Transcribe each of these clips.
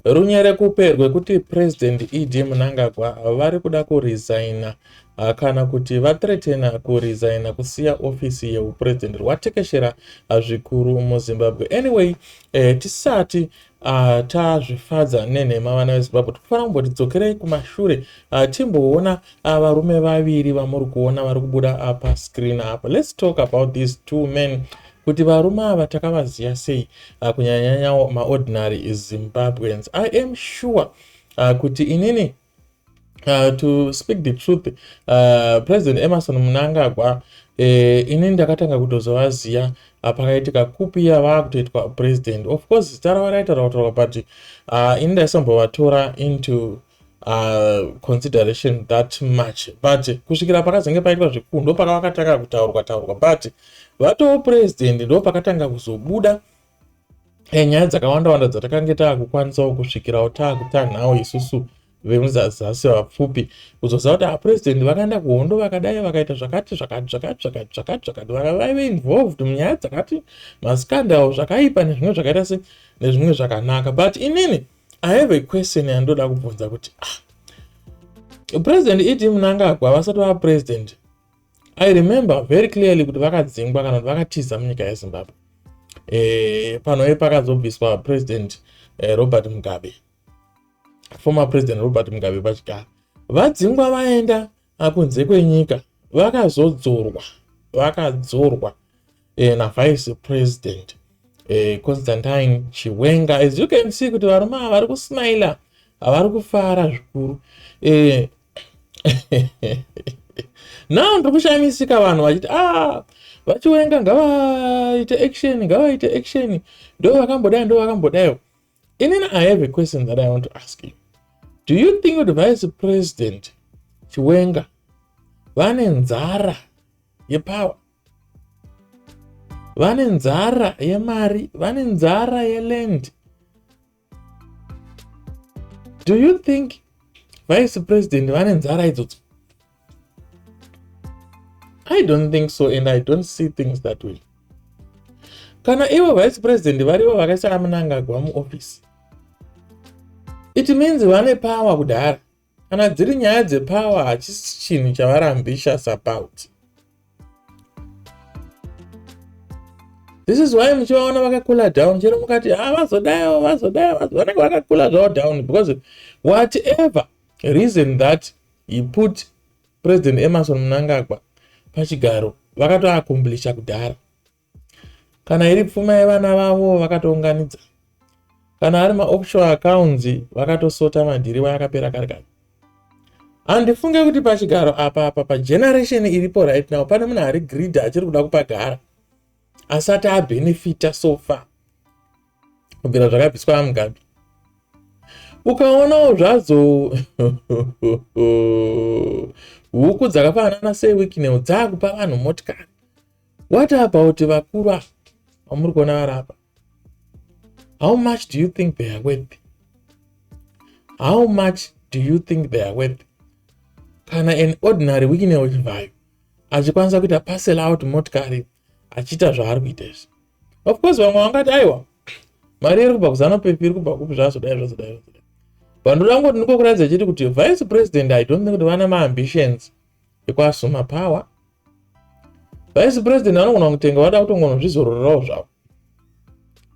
Runyerekupe rwekuti President ED Mnangagwa vari kuda kuresigner ah, kana kuti vathreatena kuresigner kusiya ofisi yehupresident rwatekeshera ah, zvikuru muZimbabwe. Anyway, eh, tisati ah, tazvifadza nenhema vana vezimbabwe tikufanira kumboti dzokerei kumashure ah, timboona ah, varume vaviri vamuri kuona vari kubuda ah, pascreen apa let's talk about these two men kuti varume ava takavaziva sei uh, kunyanyanya maordinary zimbabweans i am sure uh, kuti inini Uh, to speak the truth uh, president emerson munangagwa eh, inini ndakatanga kutozovaziva uh, pakaitika kupi yavaa kutoitwa president of course zita ravo raitaura kutaurwa but uh, ini ndaisambovatora into uh, consideration that much but kusvikira pakazenge paitwa zvekuu ndo paka vakatanga kutaurwa taurwa but vatoo president ndo pakatanga kuzobuda eh, nyaya dzakawanda wanda dzatakange taakukwanisawo kusvikirawo taakutanhawo isusu vemuzazasi vapfupi kuzoziva kuti apresident vakaenda kuhondo vakadai vakaita zvakati zvakati zvakati zvakati zvakati zvakati vaka vaive involved munyaya dzakati maskandal zvakaipa nezvimwe zvakaita se nezvimwe zvakanaka but inini I have a question yandoda kubvunza kuti ah, president ed munangagwa vasati vava president i remember very clearly kuti vakadzingwa kana kuti vakatiza munyika yezimbabwe e, eh, panoye pakazobviswa president e, robert mugabe former president robert mugabe pachigara vadzingwa vaenda akunze kwenyika vakazodzorwa vakadzorwa eh, navice president eh, constantine chiwenga as you can see kuti varume ava vari kusmaila havari kufara zvikuru eh, now ndiri kushamisika vanhu vachiti ah, vachiwenga ngavaite action ngavaite action ndo vakambodai ndo vakambodaiwo inini i have a question that i want to ask you do you think kuti vice president chiwenga vane nzara yepower vane nzara yemari vane nzara yeland do you think vice president vane nzara idzodzo i don't think so and i don't see things that way kana ivo vice president varivo vakaisa amunangagwa muofisi it means vane power kudhara kana dziri nyaya dzepower hachisi chinhu chavari ambitious about this is why muchivaona vakakula down chero mukati ha ah, vazodayo vazodayo vanenge vakakula zvavo down because whatever reason that He put President Emerson Mnangagwa pachigaro vakatoakomblisha kudhara. Kana iri pfuma yevana vavo vakatounganidza. Kana ari maoffshore accounts vakatosota madhiriva akapera kare kare. Handifunge kuti pachigaro apa apa pageneration iripo right now pane munhu ari greed achiri kuda kupagara asati abenefita so far. kubvira zvakabviswa amugabe ukaonawo zvadzo huku dzakafanana sewikinel dzaakupa vanhu motikari what about vakuru ava vamuri kuona vari apa how much do you think they are worth how much do you think they are worth kana an ordinary wikinel chivhayo achikwanisa kuita parcel out motikari achiita zvaari kuita izvi of course vamwe vangati aiwa mari iri kubva kuzano pepi iri kubva kupi zvazodai zvazodai zvazodai but ndoda kungoti ndiko kuratidza chiti kuti vice president i don't think kuti vana maambitions ekuasuma power vice president vanogona kutenga vada kutongonozvizororerawo zvavo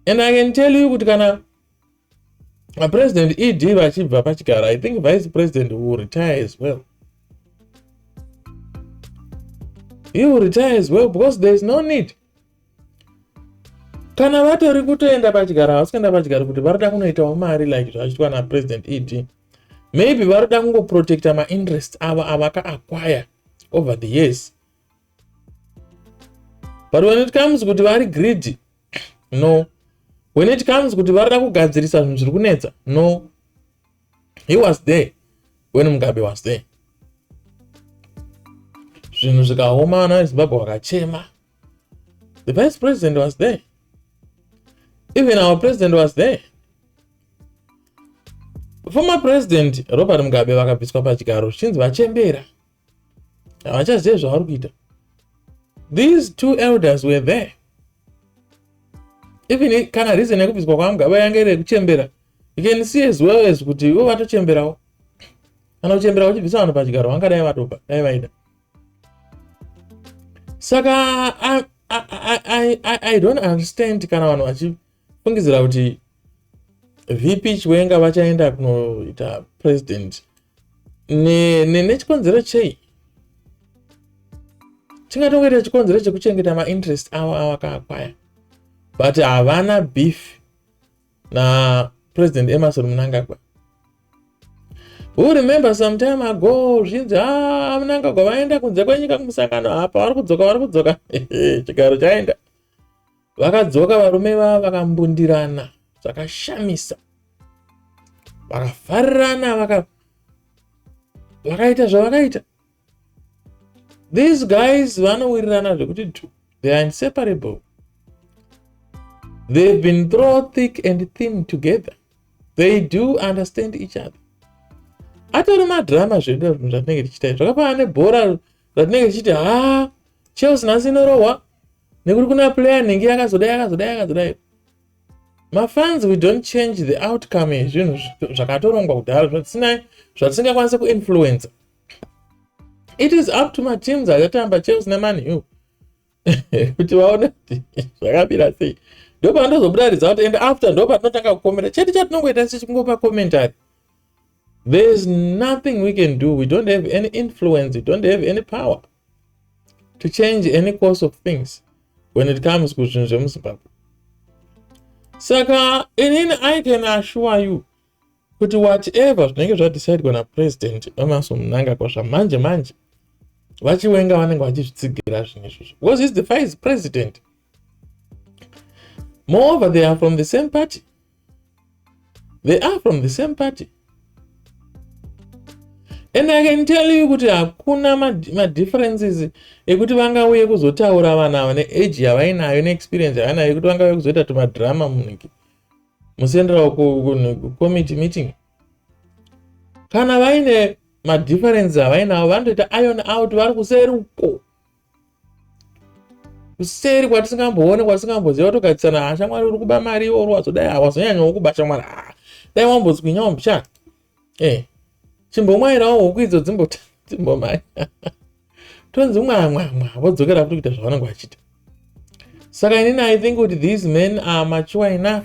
and i can tell you kuti kana president ed vachibva pachigaro i think vice president will retire as well he will retire as well because there is no need kana vatori kutoenda pachigaro havasi kuenda pachigaro kuti varoda kunoitawo mari like zvachiitwa napresident ed maybe varoda kungoprotecta mainterest avo avaka acquire over the years but when it comes kuti vari greedy no when it comes kuti varida kugadzirisa zvinhu zviri kunetsa no he was there when mugabe was there zvinhu zvikaoma vana vezimbabwe vakachema the vice president was there even our president was there former president robert mugabe vakabviswa pachigaro zvichinzi vachembera havachazive zvavari kuita these two elders were there even kana reason yekubviswa kwamugaba yange iri yekuchembera you can see as well as kuti ivo vatochemberawo kana kuchembera kuchibvisa vanhu pachigaro vangadai vatopa dai vaida saka I, I, I, I, I don't understand kana vanhu vachi fungidzira kuti vp chiwenga vachaenda kunoita president nechikonzero ne, ne chei chingatongoita chikonzero chekuchengeta mainterest avo avakaakwaya but havana beef na president emerson munangagwa who remember some time ago zvinzi a ah, munangagwa vaenda kunze kwenyika kumusangano apa vari kudzoka vari kudzoka chigaro chaenda Vakadzoka varume vava vakambundirana zvakashamisa. Vakafarirana vaka vakaita zvavakaita. These guys vanowirirana zvekuti two. They are inseparable. They've been thrown thick and thin together. They do understand each other. Atori madrama zvedu zvinhu zvatinenge tichiita. Zvakafanana nebhora ratinenge tichiti haa Chelsea nhasi inorohwa nekuti kuna player anenge yakazodai yakazodai yakazodai mafans we don't change the outcome yezvinhu zvakatorongwa kudhara zvatisinai zvatisingakwanise kuinfluencer it is up to mateams achatamba chelsea nemani u kuti vaone kuti zvakamira sei ndopanotozobuda result and after ndopatinotanga kukomera chete chatinongoita sichingopa commentary there is nothing we can do we don't have any influence we don't have any power to change any course of things when it comes kuzvinhu zvemuzimbabwe saka inini i can assure you kuti whatever zvinenge zvadecidewa napresident emaso munangagwa zvamanje manje vachiwenga vanenge vachizvitsigira zvinhu izvozvo because is the vice president Moreover, they are from the same party. They are from the same party. And I can tell you kuti hakuna madifferences ekuti vangauye kuzotaura vanhu ava neage yavainayo neexperience yavainayo yekuti vangauye kuzoita tumadrama muniki mucentral committee meeting kana vaine madifferences avainawo vanotoita iron out vari kuseri uko kuseri kwatisingamboone kwatisingamboziva togadzisana ha shamwari uri kuba mari iwo ruwadzo dai hawazonyanyawo kuba shamwari ha dai wambozwinyawo mbicha e chimbomwairawo huku idzo dzimbota dzimbomai tonzi mwamwamwa vodzokera kuti kuita zvavanenge vachita saka inini i think kuti these men are mature enough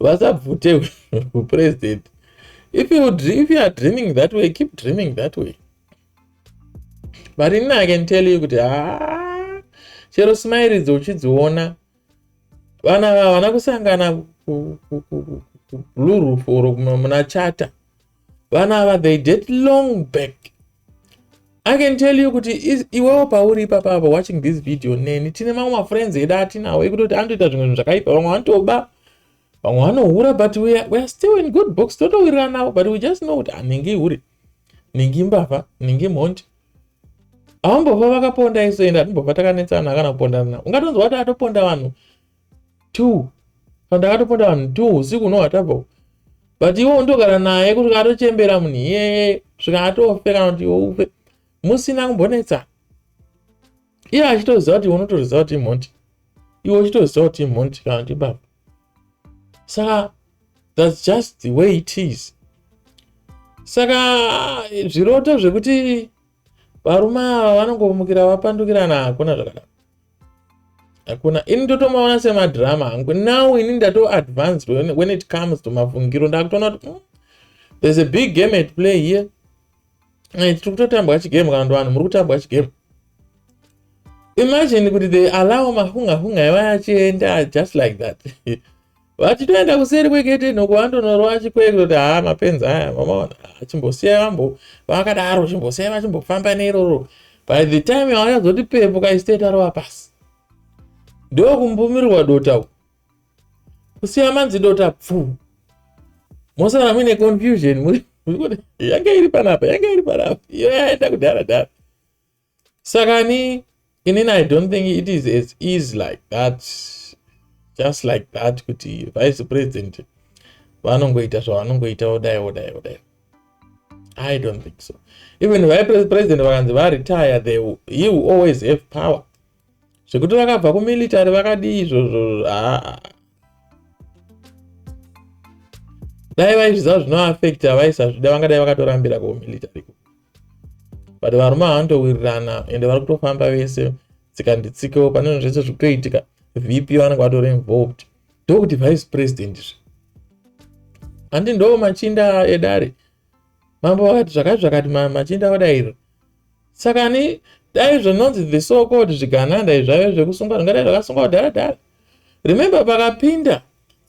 vasabvute hupresident if you, if you are dreaming that way keep dreaming that way but ini i can tell you kuti haa chero smiridzo uchidziona vana vana kusangana kublue roof or muna chata vana ava they did long back i can tell you kuti iwewo pauri ipapa apa watching this video neni tine mamwe mafriends edu atinawo ekutoti anotoita zvimwe zvinhu zvakaipa vamwe vanotoba vamwe vanohura but weare still in good books totowiriranawo but we just know kuti anenge ah, ihure nenge imbavha nenge imhondi avambofa vakaponda isoenda timbobva takanetsana kana kupondana ungatonzwa kuti atoponda vanhu two pandakatoponda vanhu two usiku unohwa tabva but iwe undogara naye kuti katochembera munhu iyeye svika atofe kana kuti iwe ufe musina kumbonetsana iye achitoziva kuti unotoziva kuti imhondi iwe uchitoziva kuti imhondi kana kuti baba saka thats just the way it is saka zviroto zvekuti varume ava vanongomukira vapandukirana hakuna zvakadaro hakuna ini ndotomaona semadrama hangu now ini ndatoadvanced when, when it comes to mafungiro ndakutoona kuti mm, there's a big game at play here eh, tiri kutotambwa chigame kana ndovanhu muri kutambwa chigame imagine kuti they allow mahunga hunga ivaya achienda just like that vati toenda kuseri kwegete noko vandonorova achikwee kutoti haa mapenzi aya mamaona chimbosiyai vambo vakadaro chimbosiyai vachimbofamba neiroro by the time yavanyazoti pepo kaisitei tarova pasi ndokumbumirirwa dota uku kusiya manzi dota pfu mosara muine confusion yange iri panapa yange iri panapa iyo yaenda kudhara dhara saka ni inini i don't think it is as easy like that just like that kuti vice president vanongoita zvavanongoita odai odai odai i don't think so even vice president vakanzi varetire they he will always have power zvekuti vakabva kumilitary vakadii izvozvo haa dai vaizviziva zvinoafecta vaisazvida vangadai vakatorambira kumilitary but varume havanotowirirana ende vari kutofamba vese tsika nditsikewo pane zvinhu zvese zvikutoitika vp vanenge vatori involved ndokuti vice president zve handi ndo machinda edare mambo vakati zvakati zvakati machinda odairo saka ni dai zvinonzi the so called zvigananda izvaive zvekusungwa zvingadai zvakasungwa kudhara dhara remember pakapinda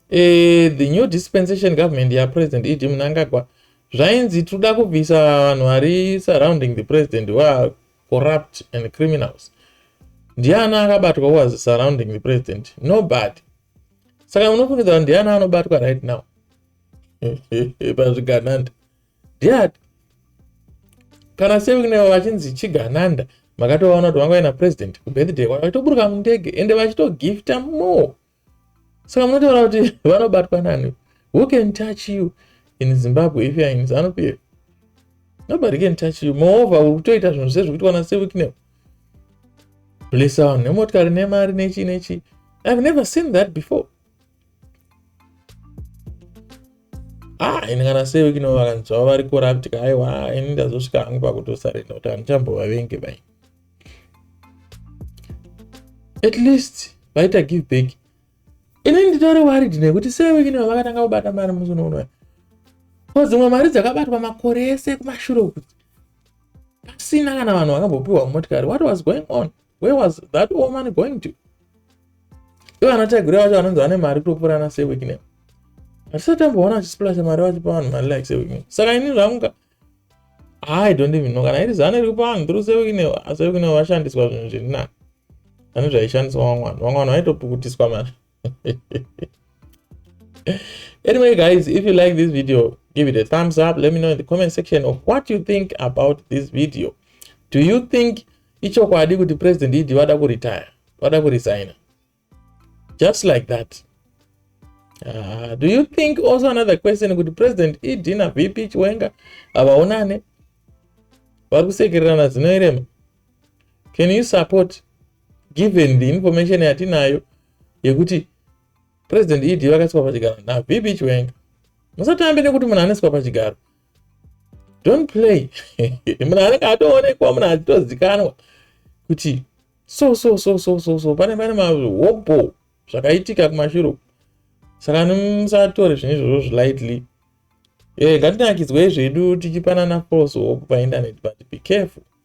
eh, the new dispensation government yapresident ed munangagwa zvainzi tinoda kubvisa vanhu vari surrounding the president waa corrupt and criminals ndiani akabatwa was surrounding the president nobody saka munofungidzaa ndiani anobatwa right now pazvigananda dad kana sekuneo vachinzi chigananda makatovaona kuti vanga vaina president kubirthday kwavo vaitoburuka mundege ende vachitogifta more saka munotaura kuti vanobatwa nani who can touch you in zimbabwe if youare in zanup here nobody can touch you moreover uri kutoita zvinhu zve zvekuitwa nasevikneo blessa vanhu nemotikari nemari nechi nechi ihave never seen that before ah ini kana sei kino vakanzwa vari corrupt ka aiwa ini ndazosvika hangu pakutosarenda kuti handichambovavenge bai at least vaita give back ini nditori worried nekuti sei wekino vakatanga kubata mari musi unounoya ko dzimwe mari dzakabatwa makore ese kumashure kuti pasina kana vanhu vakambopiwa motikari what was going on where was that woman going to ivo anataigure vacho vanonzi vane mari kutopfuura ana sewikne hatisati amboona achisiplasha mari vachipa vanhu mari like sewikne saka ini zvamuka i don't even know kana iri zano iri kupa vanhu through sewikne sewikne vashandiswa zvinhu zviri nani pane zvaishandiswa vamwe vanhu vamwe vanhu vaitopukutiswa mari anyway guys if you like this video give it a thumbs up let me know in the comment section of what you think about this video do you think ichokwadi kuti president idi vada kuretire vada kuresigna just like that uh, do you think also another question kuti president ed na vp chiwenga havaonane vari kusekererana zinoerema can you support given the information yatinayo yekuti president ed vakaiswa pachigaro navb chiwenga musatambe nekuti munhu anoiswa pachigaro don't play munhu anenge atoonekwa munhu achitozikanwa kuti so so so so so so pane pane mahobho zvakaitika kumashuro saka musatore zvinhu izvozvo zvilightly e eh, ngatinakidzwei zvedu tichipanana false hope painternet but be careful